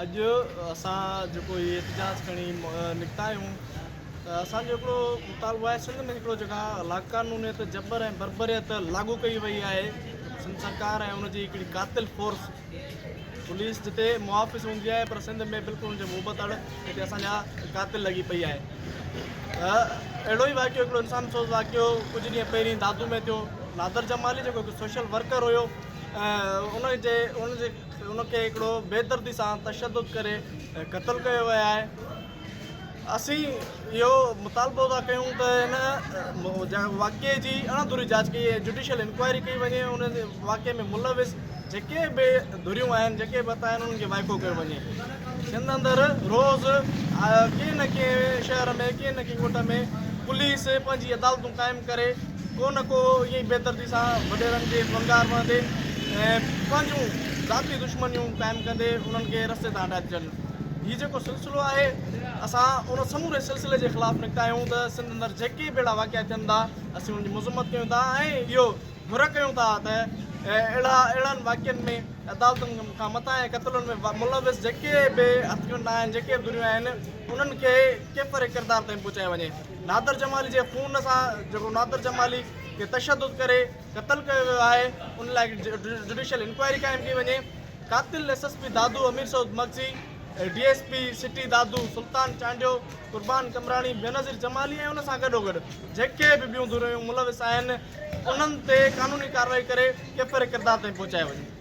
اڄ اسان جيڪو هي احتجاج کڻي نڪتا آهيون ته اسان جو هڪڙو مطالبو آهي سنڌ ۾ هڪڙو جيڪا لاقانونيت جبر ۽ بربريت لاڳو ڪئي وئي آهي سنڌ سرڪار ۽ ان جي هڪڙي قاتل فورس پوليس جتي محافظ هوندي آهي پر سنڌ ۾ بلڪل ان جي مهبتڙ جتي اسان جا قاتل لڳي پئي آهي ته اهڙو ئي واقعو هڪڙو انسان سوز واقعو ڪجهه ڏينهن پهرين دادو ۾ ٿيو نادر جمالي جيڪو هڪ سوشل ورڪر هيو ان جي ان جي ان کي هڪڙو بيدردي سان تشدد ڪري قتل ڪيو ويو آهي اسين اهو مطالبو ٿا ڪيون ته ان واقعي جي اڻ ڌري جاچ ڪئي وڃي جڊيشل انڪوائري ڪئي وڃي ان واقعي ۾ ملوث جيڪي به ڌريون آهن جيڪي به آهن انهن کي وائکو ڪيو وڃي سنڌ اندر روز ڪنهن نه ڪنهن شهر ۾ ڪنهن نه ڪنهن ڳوٺ ۾ پوليس پنهنجي عدالتون قائم ڪري ڪو نه ڪو ائين ئي بيدردي سان وڏيرن جي ڀنگار وهندي ۽ پنهنجون ذاتي دشمنيون قائم ڪندي انهن کي رستي تان هٽائي ٿي ڇڏن هي جيڪو سلسلو آهي اسان ان سموري سلسلي جي خلاف نڪتا آهيون ته سنڌ اندر جيڪي به اهڙا واقعا ٿين ٿا اسين ان جي مذمت ڪيون ٿا ۽ اهو گهر ڪيون ٿا ته اهڙا اهڙن واقعن ۾ عدالتن کان متان ۽ قتلن ۾ ملوث جيڪي به هٿڪنڊا آهن جيڪي به ڌريون آهن انهن کي ڪيفر ڪردار تائين پهچايو وڃي نادر جمالي جي خون سان جيڪو نادر جمالي کي تشدد ڪري قتل ڪيو ويو آهي ان لاء جڊيشل انڪوائري قائم ڪئي وڃي قاتل S S P Dadu Amir Saud Magsi D S P city Dadu Sultan Chandio Qurban Qamrani Benazir Jamali ۽ ان سان گڏوگڏ جيڪي به ٻيون ڌريون ملوث آهن انهن تي قانوني ڪارروائي ڪري ڪيفر ڪردار تائين پهچايو وڃي